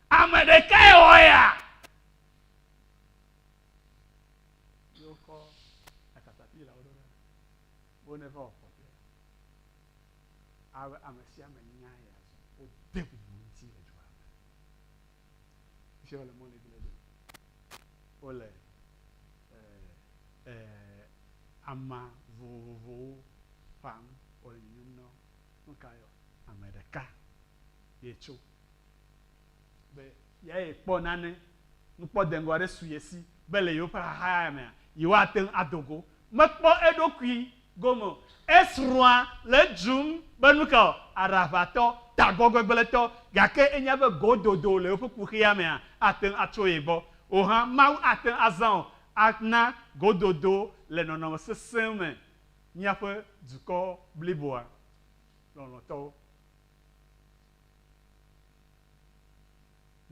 Ame ɖekae wɔ eya. ye wokɔ akatapila wo ɖo ɖa wo ne va wɔ kɔƒea. Albe ame sia ame nya ya zɔ. Wode bubu ŋuti le dua me. Ŋuti wole mɔ legbe legbe. Wole eh eh ama vovovowo ƒam wole nyunyum na wo. Nuka yɔ? Ame ɖeka ye tso. be yeae kpɔ nane, nukpɔ deŋgɔ aɖe su ye si be le yewoƒe xaxa ya mea, yewoate ŋu ado go. Mekpɔ eɖokui gome o. Esrɔ̃a le edzrom be nuka o, aɖaʋatɔ, tagbɔgbegblẽtɔ, gake enya be gododo le yewoƒe kuxia mea, ate ŋu atso ye gbɔ. Wò hã, Mawu ate ŋu azã wò ana gododo le nɔnɔme sesẽ me míaƒe dukɔ bliboa lɔlɔ̃tɔwo.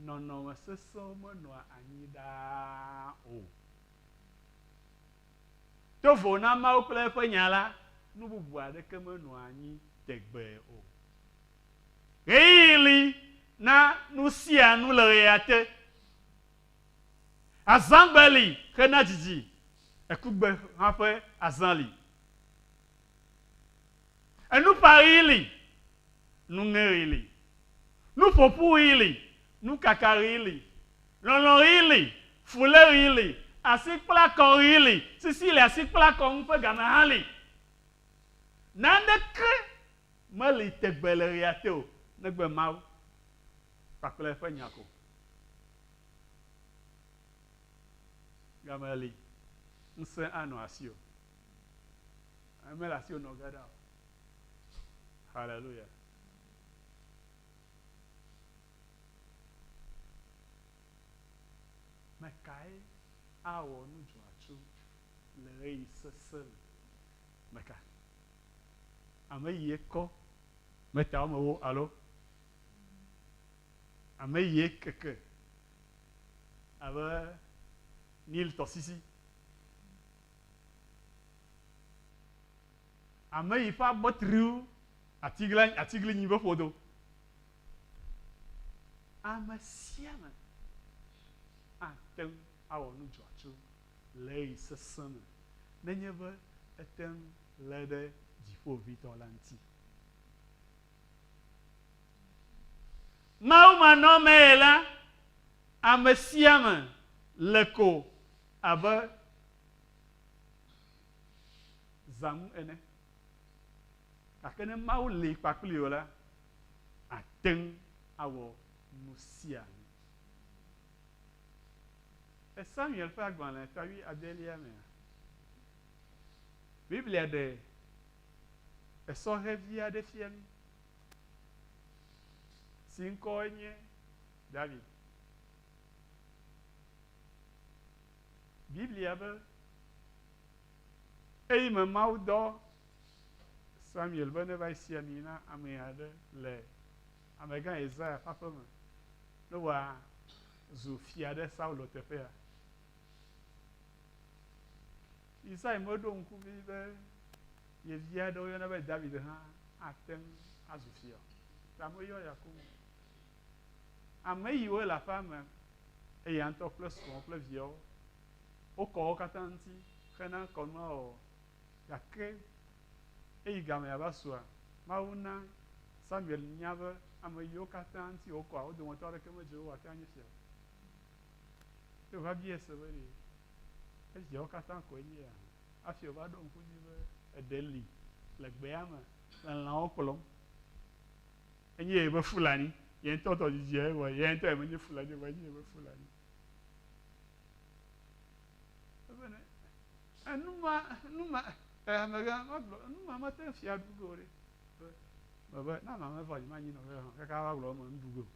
Nɔnɔme sesẽwo menɔa anyi ɖaa o. Do vo na Mawu kple eƒe Nya la, nu bubu aɖeke menɔa anyi tegbee o. Ɣeyiɣi li na nusianu le ɣeyiɣiate. Azãgbe li hena dzidzi, ekugbe hã ƒe azã li. Enuƒãɣi li, nuŋeɣi li. Nuƒoƒuɣi li, nukakaɣi li. Lɔlɔ̃ɣi li, fuléɣi li. Asikplakɔɣi li, sisi le asikplakɔ ŋu ƒe game hã li. Naneke meli tegbe le ɣia te o negbe Mawu kpakple eƒe Nya ko. Game li, ŋusẽ anɔ asiwò. Mele asiwò nɔ ge ɖa o. Haleluya. Me kae awɔ nu dzɔatsu le ɣeyiɣi sesẽ me? Me ka? Ame yie kɔ metawo me wo alo ame yie keke abe Nil tɔsisi? Ame yi ƒe agbe tri wu atiglinyi ƒe ƒodo. Ame sia ame ate ŋu awɔ nu dzɔatsu le ɣeyiɣi sesẽ me nenye be ete ŋu lé ɖe Dziƒoʋĩtɔ la ŋuti. Mawumanɔmee la, ame sia ame le ko Abe zã ŋu ene. Gake ne Mawu li kpakpli wò la, àte ŋu awɔ nu sia nu. Le Samuel ƒe agbalẽ ƒe wuiadelia mea, Biblia ɖe esɔhɛ vi aɖe fia mí si ŋkɔe nye David. Biblia be, Eyi me Mawu dɔ Samuel be neva esi ami na ame aɖe le amegã Yesaya ƒe aƒe me ne wòazu fia ɖe Saulo teƒea. Yesaya meɖo ŋku ʋĩ be ye vi aɖe woyɔna be David hã ate ŋu azu fia o, ta meyɔ ya koŋ o. Ame yiwo le aƒea me, eya ŋutɔ kple srɔ̃ kple viawo, wokɔ wo katã ŋuti hena kɔnua wɔwɔ. Gake eyi gamea ava sua? Mawu na Samuel nya be ame yiwo katã ŋuti wòkɔa, wo dometɔ aɖeke medze wo ate ŋu anye fia o. Ye wòva biae se be, Ɖe eviawo katã koe nye ya? Hafi wòva ɖo ŋku edzi be, Eɖe li le gbea me le lãwo kplɔm. enye yeƒe Fulani. Ye ŋutɔ tɔ dzidziae vɔ ye ŋutɔ menye Fulani o vɔ enye yeƒe Fulani. Ebene enuma enuma amegã magblɔ enuma mate ŋu fia ɖu ge o ɖe. Mebe na mame vɔ dzi manyi nɔvia hã kaka va gblɔ eme nuɖu ge o.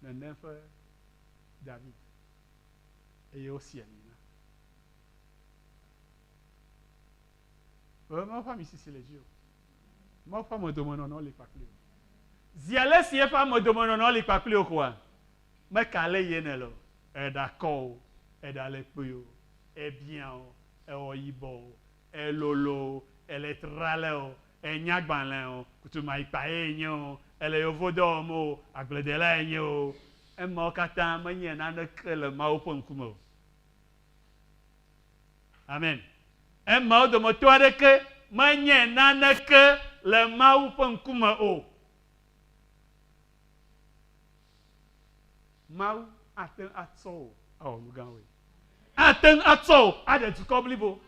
Nene ƒe David eye wosi ami na. Ɣe me ƒe amisisi le dzi o. Mawu ƒe amedomenɔnɔ li kpakpli wò. Zi ale si eƒe amedomenɔnɔ li kpakpli wò koa? Meka ale yi ene le o. Èɖe akɔ o, èɖe ale kpui o, èbiã o, èwɔ yibɔ o, èlolo o, èle trale o, ènya agbalẽ o, kutumayikpae ènye o, èle yevodɔ wɔm o, agbledelae ènye o. Emawo katã menye naneke le Mawu ƒe ŋkume o. Amen. Emeawo dometɔ aɖeke menye naneke le Mawu ƒe ŋkume o. Mawu ate ŋu atsɔ wò awɔ nu gãwoe. Ate ŋu atsɔ wò aɖe dukɔ blibo.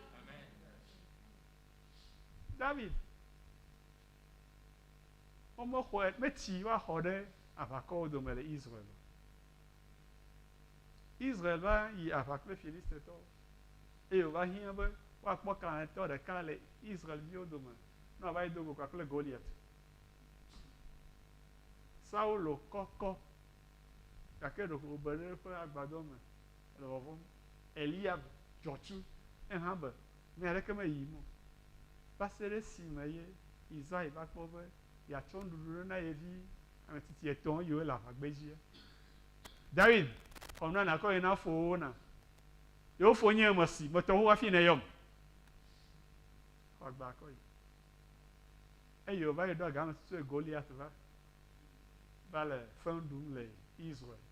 David, womexɔe, metsi woaxɔ ɖe aʋakɔwo dome le Israel o. Israel va yi aʋa kple Filistitɔwo, eye wòva hiã be woakpɔ kalẽtɔ ɖeka le Israel-viwo dome ne wòava yi do go kpakple Goliat. Saulo kɔkɔ, gake ɖeko wòbe ɖe eƒe agbadɔ me le vɔvɔ̃m. Eliab dzɔ tsi, ehã be nya aɖeke meyim o, va se ɖe esime ye Isai va kpɔ be yeatsɔ nuɖuɖu ɖo na ye vi ametsitsi etɔ̃ yiwo le aʋagbedzie. Dawid xɔ nua nàkɔ yi na fowòwo nam. Yewo fo nye ame si metɔ xoxo hafi nèyɔm. Xɔ agbe akɔ yi. Eye wòva yi ɖo aga ame si tsoe Goliat va, va le feŋ ɖum le Israel,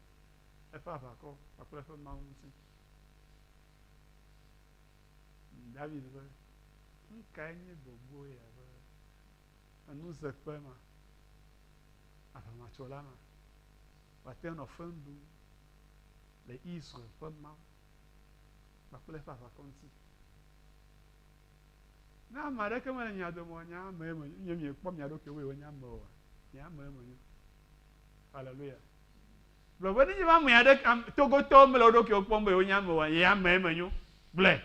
eƒe aʋakɔ kpakple eƒe Mawu ŋuti. Dawid be, Nu kae nye gbɔgbɔ ya be enuzeƒe ma, aʋamatsola ma, wòate ŋu anɔ feŋ ɖum le Israel ƒe Mawu kpakple eƒe aʋakɔ ŋuti. Ne ame aɖeke mele mia dome o, nye ame me nye miekpɔ mia ɖokui be wònye ame oa, nye ame me nyo. Haleluya. Gblɔ be nenye be ame aɖeke togotɔwo mele wo ɖokuiwo kpɔm be wònye ame oa, ye ame me nyo. Gblɔe.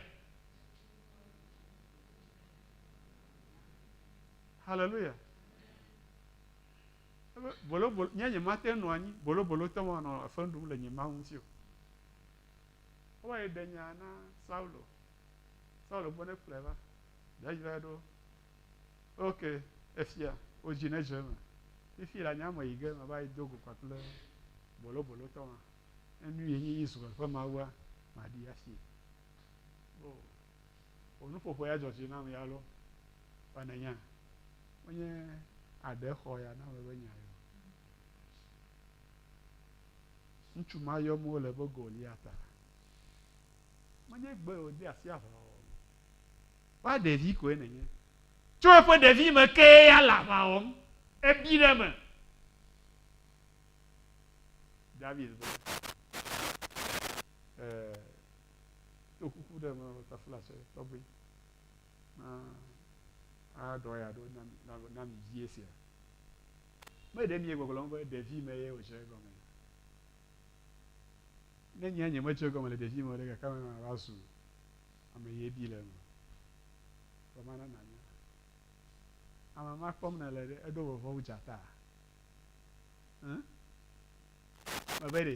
Haleluya. Ebe bolobolo, nye nyemate ŋu nɔ anyi bolobolotɔ manɔ fe ɖum le nye Mawu ŋuti o. Wowa ye ɖe nya na Saulo. Saulo gbɔ ne kplɔe va. David va ɖo. Ok, efia, wò dzi nedze eme. Fifi la nye ame yi ge mava yi do go kpakple bolobolotɔ ma. Ne nu ye nye Israel ƒe Mawua, maɖi afi. O, Wò nuƒoƒo ya dzɔ dzi nam ya lɔ. Vɔ nènya, menye aɖe xɔ ya na wòe be nya ye o. Ŋutsu ma yɔm wole be Goliata. Menye gbɔe wòde asi aʋawɔwɔ me. Kpɔ ɖevi koe nènye. Tso eƒe ɖevime kee ya le aʋa wɔm. Èbi ɖe eme. David be, Ɛɛ. Ɖo kuku ɖe me taflatsɛ tɔgbe na aɖɔ ya ɖo na mi vie sia. Me ɖe mie gbɔgblɔm be ɖevi me ye wòdze egɔme. Ne nye nye medze egɔme le ɖevi me ɖe gake me ma va zu ame ye bi le eme. Vɔ ma na nanya. Ame ma kpɔm na le ɖe eɖo vɔvɔ wu dzata. Hm? Me be ɖe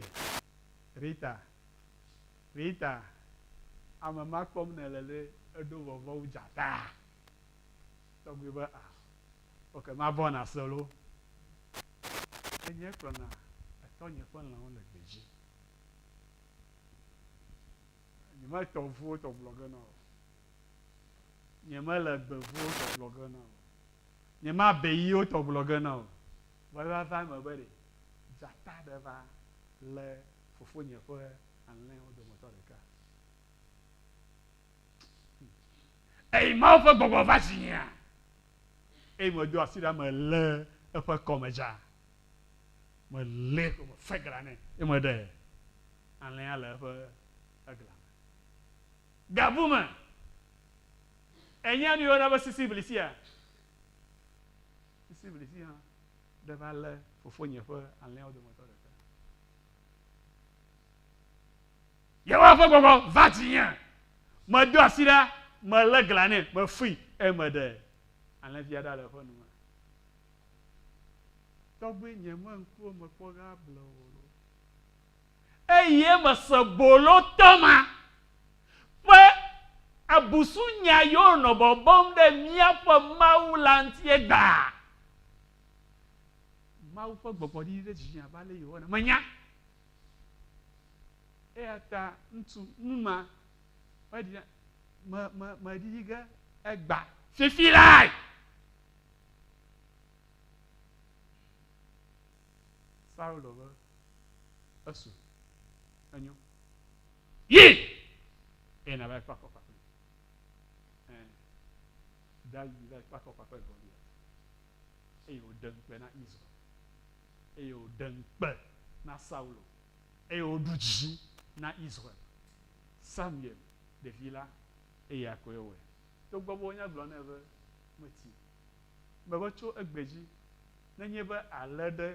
Rita Rita, ame ma kpɔm nèle ɖe eɖo vɔvɔ̃ wu dzataa? Tɔgbui be, A, oke mavɔ̃ na se loo. Enyee kplɔna etɔnye ƒe lãwo le gbe dzi. Nyemetɔ ŋuwo tɔ gblɔ ge na o. Nyemele gbe ŋuwo tɔ gblɔ ge na o. Nyemabe yiwo tɔ gblɔ ge na o. Vɔ eva va eme be ɖe dzata ɖe va lé Fofonye ƒe alẽwo dometɔ ɖeka. Eyi Mawu ƒe gbɔgbɔ va dzinyea, eye medo asi ɖa melé eƒe kɔme dza. Melée ko mefe glã nɛ, eye meɖe alẽa le eƒe egla me. Gabu me, ènya nu yɔna be sisiblisia? Sisiblisi hã Ɖe malé fofonye ƒe alẽawo dometɔ ɖeka. Yehowa ƒe gbɔgbɔ va dzinye. Medo asi ɖa, melé glã nɛ, mefui, eye meɖe alẽvia ɖa le eƒe nu me. Tɔgbuinyemee ŋkuwo mekpɔ ɣea ble o. eye mese bolotɔ ma ƒe abusunya yi wonɔ bɔbɔm ɖe míaƒe Mawu la ŋuti egbea. Mawu ƒe gbɔgbɔ ɖiɖi ɖe dzinye abe ale Yehowa ene. Menya eya ta ŋutsu nu ma meɖi me me meɖiɖi ge egba fifi lae. Saulo be, Esu, enyo. Yi, eye nàva yi kpe afɔkpa kplim. Ẽ, David yi va yi kpe afɔkpa kple Goliat, eye wòɖe ŋukpe na Israel, eye wòɖe ŋukpe na Saulo, eye wòɖu dzi na Israel. Samuel, ɖevi la, eya koe wɔe, togbɔ be wonya gblɔ nɛ be, Meti Meva tso egbe dzi. Nenye be àlé ɖe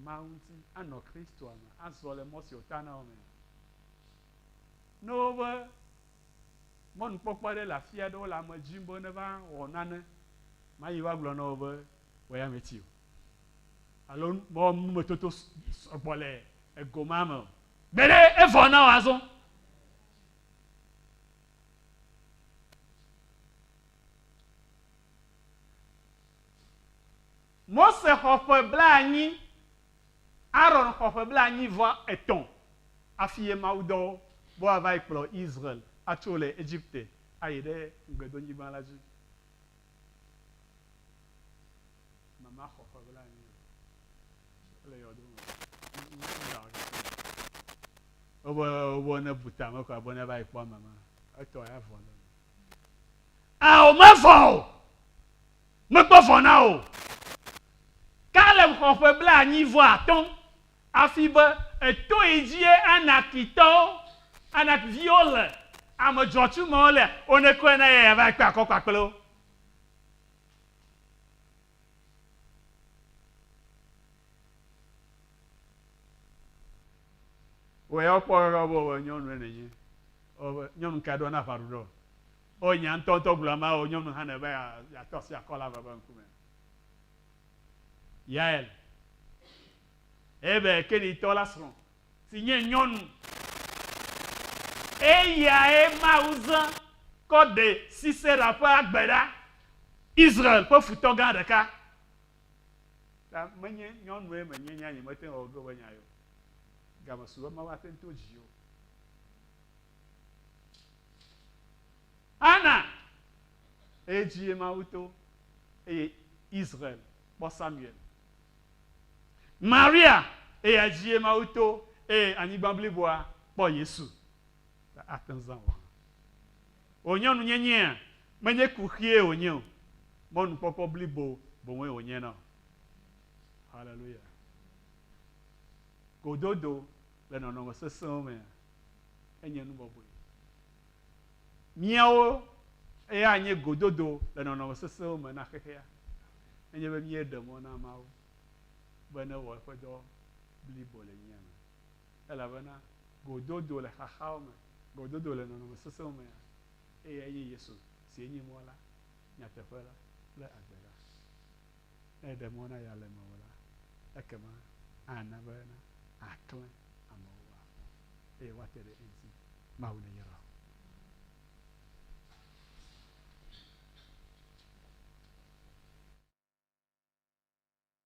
Mawu ŋuti anɔ Kristoa me azɔ le mɔ si wòta na wò mea? Ne wobe mɔnukpɔkpɔ aɖe le afi aɖe, wole ame dzim be neva wɔ nane, màyi va gblɔ na wo be wò ya mèti o alo mewɔ numetoto sɔ gbɔ le ego ma me o. Gbe ɖe evɔ na wò azɔ. Mose xɔ ƒe blaenyi, Aron xɔ ƒe blaenyi vɔ etɔ̃ afi ye mawudɔ bɔ ava yi kplɔ Israel atso le Egipte ayi ɖe Ŋugbedonyigba la dzi. Mama xɔ ƒe blaenyi le yɔdo me. Wobe wobe ne bu tame koa be ne va yi kpɔ mama etɔ ya vɔ le. Ao, mevɔ̃ o. Mekpɔ vɔ̃ na wò o. Kaleb xɔ ƒe blaenyi vɔ atɔ̃ hafi be eto yi dzie Anakitɔwo, Anak viwo le ame dzɔtsu mawo le onekɔe na eya va kpe akɔ kpakple wo. Wòya wokpɔ ɖoɖoa be wòbe nyɔnu ɖe nènye. Wòbe nyɔnu ka ɖo na aʋa ɖoɖoa? O nya ŋutɔ ŋutɔ gblɔ amea wò nyɔnu hã nɛ be yeatɔ asi akɔ le aʋa ƒe ŋkume. Yael, Heber Kenitɔ la srɔ̃, si nye nyɔnu. Eyae Mawu zã kɔ ɖe Sisera ƒe agbe ɖa, Israel ƒe futɔ gã ɖeka, Ta menye nyɔnue menye nya nyemete ŋu awɔ ɖo be nya ye o. Game su be Mawu ate ŋu to dziwò. Ana, eye dzi ye Mawu to, eye Israel kpɔ Samuel. Maria, eya dzi ye Mawu to, eye anyigba bliboa kpɔ Yesu. ta ate ŋu zã o hã. O nyɔnunyenyea, menye kuxie wònye o, mɔnukpɔkpɔ blibo boŋue wònye na wò. Haleluya! Gododo le nɔnɔme sesẽwo mea, enye nu bɔbɔe. Míawo ya anye gododo le nɔnɔme sesẽwo me na xexea, nenye be míeɖe mɔ na Mawu be newɔ eƒe dɔ blibo le mía me. elabena gododo le xaxawo me, gododo le nɔnɔme sesẽwo me hã, eyae nye Yesu, sie nye mɔ la, nyateƒe la, kple agbe la. Ne eɖe mɔ na ya le mewò la, ekema ana be nàklẽ amewo woakpɔ eye woate ɖe eŋuti. Mawu neyra wò.